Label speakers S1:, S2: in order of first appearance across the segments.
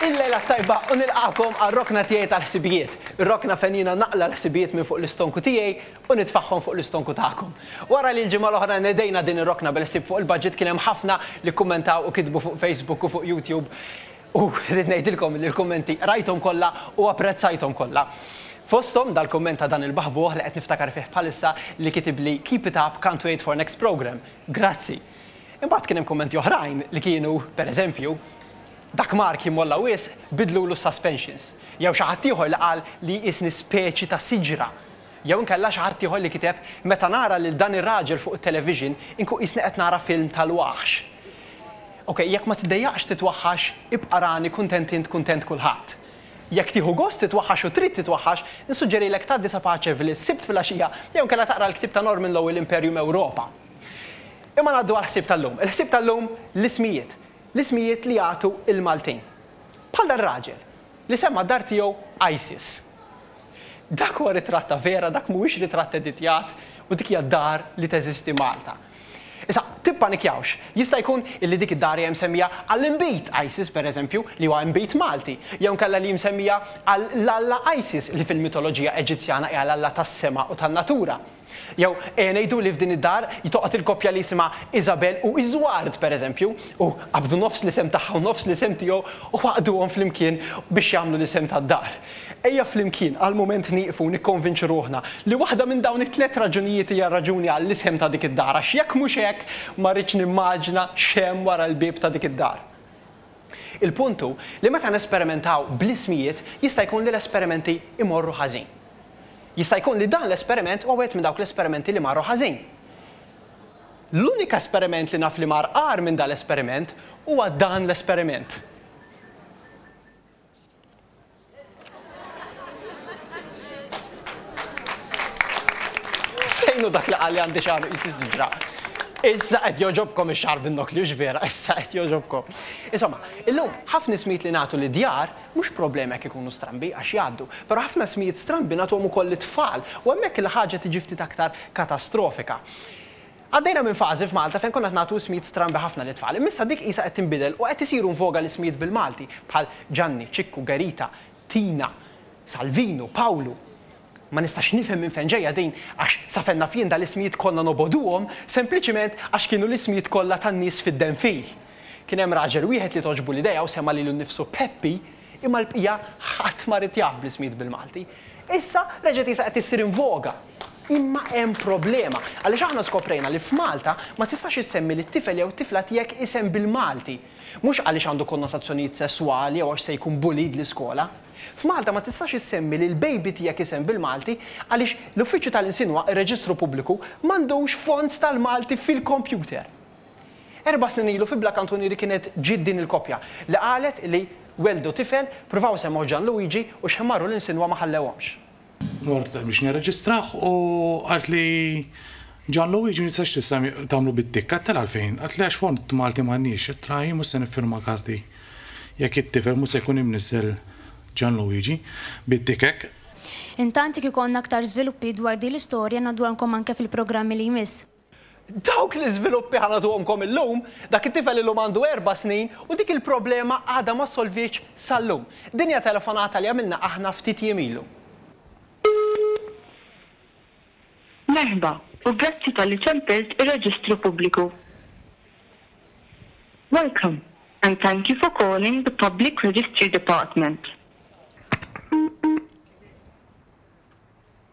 S1: Il-lejla t-tajba u nilqagħkom għar-rokna tiegħi tal-ħsibijiet. Ir-rokna fejn jiena naqla' l-ħsibijiet minn fuq l-istonku tiegħi u nitfagħhom fuq l-istonku tagħkom. Wara li l-ġimgħa l-oħra nedejna din ir-rokna bil-ħsieb fuq il-budget kien hemm ħafna li kkummentaw u kitbu fuq Facebook u fuq YouTube u rrid ngħidilkom li l-kummenti qrajthom kollha u apprezzajthom kollha. Fosthom dal-kumment ta' dan il-baħbuħ li qed niftakar fih bħalissa li kitibli Keep it up, can't wait for next programme. Grazzi! Imbagħad kien hemm kummenti oħrajn li kienu, per eżempju, Dak Mark jimmolla wisq, biddlulu s-suspensions. Jew xi ħadd ieħor li qal li jqisni speċi ta' siġra. Jew inkella xi ħadd ieħor li kiteb, Meta nara lil dan ir-raġel fuq it-television, inkun qisni qed nara film tal-waħx. Ok, jekk ma tiddejjaqx titwaħħax, ibqa' rani kuntent int kuntent kulħadd. Jekk tieħu gost titwaħħax u trid titwaħħax, insuġġerilek tgħaddi sa Paċeville s-Sibt filgħaxija jew inkella taqra l-ktieb ta' Norman Lowell Imperium Europa. Imma ngħaddu għall-ħsieb tal-lum. Il-ħsieb tal-lum l-ismijiet. L-ismijiet li jagħtu l-Maltin. Bħal dar-raġel li semma d-dar tiegħu ISIS. Dak huwa ritratt ta' vera, dak mhuwiex ritratt editjat u dik hija d-dar li teżisti Malta. Issa, tippanikjawx. Jista' jkun illi dik id-dar hija msemmija għall-inbid ISIS, pereżempju, li huwa inbid Malti, jew inkella li hi msemmija għall-alla ISIS li fil-mitoloġija Eġizzjana hija l-alla tas-sema u tan-natura. Jew, ejja ngħidu li f'din id-dar jtoqgħod il-koppja li jisimha Isabel u Iżward, pereżempju, u qabdu nofs l-isem tagħha u nofs l-isem tiegħu u għaqqduhom flimkien biex jagħmlu l-isem tad-dar. Ejja flimkien għal mument nieqfu u nikkonvinċu ruħna li waħda minn dawn it-tliet raġunijiet hija r-raġuni għall-isem ta' dik id-dar, għax jekk mhux hekk, ma rridx nimmaġina x'hemm wara l-bieb ta' dik id-dar. Il-punt hu li meta nesperimentaw bl-ismijiet jista' jkun li l-esperimenti jmorru ħażin. Jista' jkun li dan l-esperiment huwa wieħed minn dawk l-esperimenti li marru ħażin. L-unika esperiment li naf li mar agħar minn dan l-esperiment huwa dan l-esperiment. Fejnu dak li qalli għandi xar jisis ġra. Issa qed joġobkom ix-xar bin-nok li vera, issa qed joġobkom. Insomma, illum ħafna ismijiet li nagħtu li djar mhux problema jekk ikunu strambi għax jgħaddu, però ħafna smijiet strambi nagħtuhom ukoll lit-tfal u hemmhekk il-ħaġa tiġi ftit aktar katastrofika. Għaddejna minn fażi f'Malta fejn konna qed nagħtu ismijiet strambi ħafna lit-tfal, imma issa dik qisha qed tinbidel u qed isiru in voga l-ismijiet bil-Malti, bħal Ġanni, Ċikku, Gerita, Tina, Salvinu, Pawlu. Ma nistax nifhem minn fejn ġejja din għax sa fejn naf jien dal-ismijiet konna nobogħduhom sempliċiment għax kienu l-ismijiet kollha tan-nies fid-denfil. Kien hemm raġel wieħed li togħġbu l-idea u semma lilu nnifsu Peppi, Imma l-bqija ħadd ma ried jaf bl-ismijiet bil-Malti. Issa reġgħet qisha qed issir in voga. Imma hemm problema, għaliex aħna skoprejna li f'Malta ma tistax issemmi lit-tifel jew it-tifla tiegħek isem bil-Malti. Mhux għaliex għandu konnotazzjonijiet sesswali jew għax se jkun bullied l-iskola. F'Malta ma tistax issemmi lill-baby tiegħek isem bil-Malti għaliex l-Uffiċċju tal-Insien u r-Reġistru Pubbliku m'għandux fonts tal-Malti fil-kompjuter. Erba' snin ilu fi Bla Kantunieri kienet ġiet din il-koppja li qalet li welldu tifel, pruvaw semgħu Gian Luigi u x'ħmarru lil Sinwa ma ħallewhomx. Mort
S2: biex nirreġistrah u qalt li Gian Luigi ma tistax tista' tagħmlu bit-tikk. Għedtilha għalfejn. Qaltli għax fond Malti m'għandniex. Għedtilha jien mhux se niffirma karti jekk it-tifel mhux se jkun imniżżel Gian Luigi bit-tikk hekk. Intant
S3: jekk ikollna aktar żviluppi dwar din l-istorja ngħadduhalkom anke fil-programmi li jmiss. Dawk
S1: l-iżviluppi ħa nagħtuhomkom illum, dak it-tifel illum għandu erba' snin u dik il-problema għadha ma ssolvietx sal-lum. Din hija telefonata li għamilna aħna ftit jiem ilu.
S4: Merħba u grazzi talli tempirt ir-reġistru pubbliku. Welcome and thank you for calling the Public Registry Department.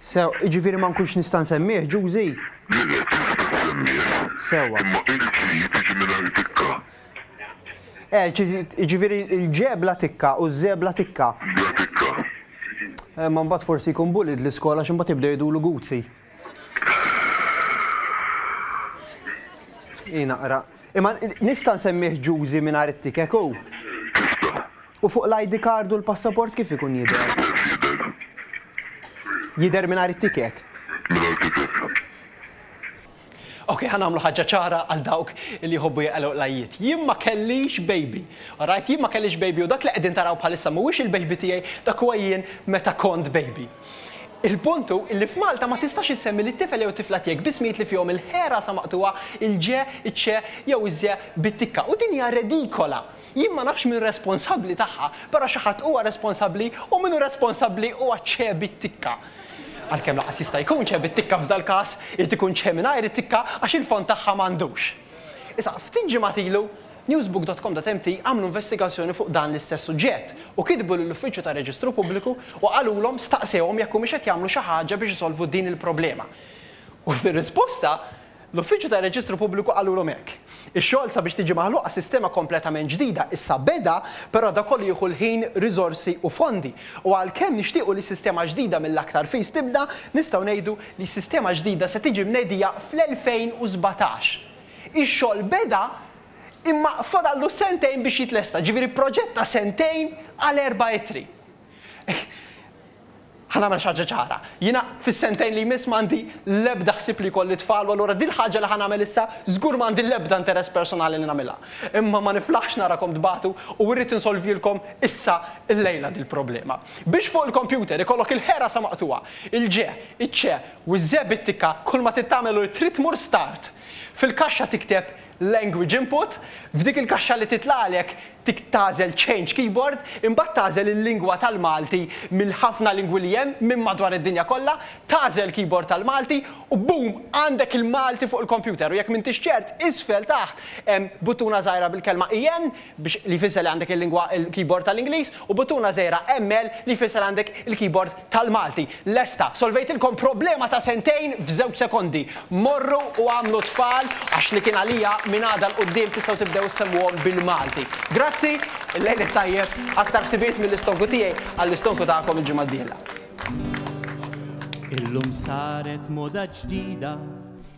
S5: Sew,
S1: jiġifieri ma nkunx nista' nsemmih, Ġużi? Le, le, tista' ssemmih.
S5: Sewwa. Imma
S1: il-ġid jiġi
S5: mingħajr tikka. Eh,
S1: jiġifieri l-ġe bla tikka u ż-ze bla tikka. Bla tikka.
S5: Imma
S1: mbagħad forsi jkun bullied l-iskola għax imbagħad jibdew jgħidulu Guzzi. Hi naqra. Imma nista' nsemmih Ġużi mingħajr it-tikek hu? U fuq l-ID card u l-passaport kif ikun
S5: jidher?
S1: Jidher, jidher. Jidher mingħajr it-ticket?
S5: Mingħajr
S1: ticket. Ok, ħa nagħmlu ħaġa ċara għal dawk li jħobbu jaqilgħu l-għajjiet. Jien ma kellix baby. Alright, jien ma kellix baby u dak li qegħdin taraw bħalissa mhuwiex il-baby tiegħi, dak huwa jien meta kont baby. Il-punt hu li f'Malta ma tistax issemmi lit-tifel jew it-tifla tiegħek b'ismijiet li fihom il-ħ rasa maqtugħa, il-ġ, iċ-ċ jew iż-ż bit-tikka u din hija redikola. Jien ma nafx min responsabbli tagħha, però xi ħadd huwa responsabbli u min hu responsabbli huwa Ċe bit-tikka. Għalkemm lanqas jista' jkun Ċe bit-tikka f'dal-każ, irid ikun Ċe mingħajr it-tikka għax il-fond tagħha m'għandux. Issa, ftit ġimgħat ilu, Newsbook.com.mt għamlu investigazzjoni fuq dan l-istess suġġett u kitbu lill-Uffiċċju tar-Reġistru Pubbliku u qalulhom, staqsewhom jekk humiex qed jagħmlu xi ħaġa biex isolvu din il-problema. U fir-risposta, L-Uffiċċju tar-Reġistru Pubbliku qalulhom hekk. Ix-xogħol sabiex tiġi maħluqa sistema kompletament ġdida issa beda, però dak kollu jieħu l-ħin, riżorsi u fondi. U għalkemm nixtiequ li sistema ġdida mill-aktar fis tibda, nistgħu ngħidu li s-sistema ġdida se tiġi mnedija fl-2017. Ix-xogħol beda imma fadallu sentejn biex jitlesta, ġifieri proġett ta' sentejn għal erba' ittri. Ħa nagħmel xi ħaġa ċara. Jiena fis-sentejn li jmiss m'għandi l-ebda ħsieb li jkolli tfal u allura dil-ħaġa li ħa nagħmel issa żgur m'għandi l-ebda interess personali li nagħmilha. Imma ma niflaħx narakom tbatu u irrid insolvjilkom issa illejla dil-problema. Biex fuq il-kompjuter ikollok il-ħera sa maqtugħa, il-ġe, iċ-ċe u ż-ze bit-tikka kull ma trid tagħmel hu li trid tmur start fil-kaxxa tikteb Language Input, F'dik il-kaxxa li titlagħlek tik tagħżel Change Keyboard, imbagħad tagħżel il-lingwa tal-Malti mill-ħafna lingwi li hemm minn madwar id-dinja kollha, tagħżel Keyboard tal-Malti u boom għandek il-Malti fuq il-kompjuter u jekk m'intix ċert isfel taħt hemm buttuna żgħira bil-kelma EN, biex li jfisser li għandek il-lingwa il-keyboard tal-Ingliż, u buttuna żgħira ML li jfisser għandek il-keyboard tal-Malti. Lesta! Solvejtilkom problema ta' sentejn f'żewġ sekondi. Morru u għamlu t-tfal għax li kien għalija minn għada 'l quddiem tistgħu tibdew issemmuhom bil-Malti. Grazzi, il-lejl it-tajjeb, aktar ħsibijiet mill-istonku tiegħi għall-istonku tagħkom il-ġimgħa d-dieħla.
S6: Illum saret moda ġdida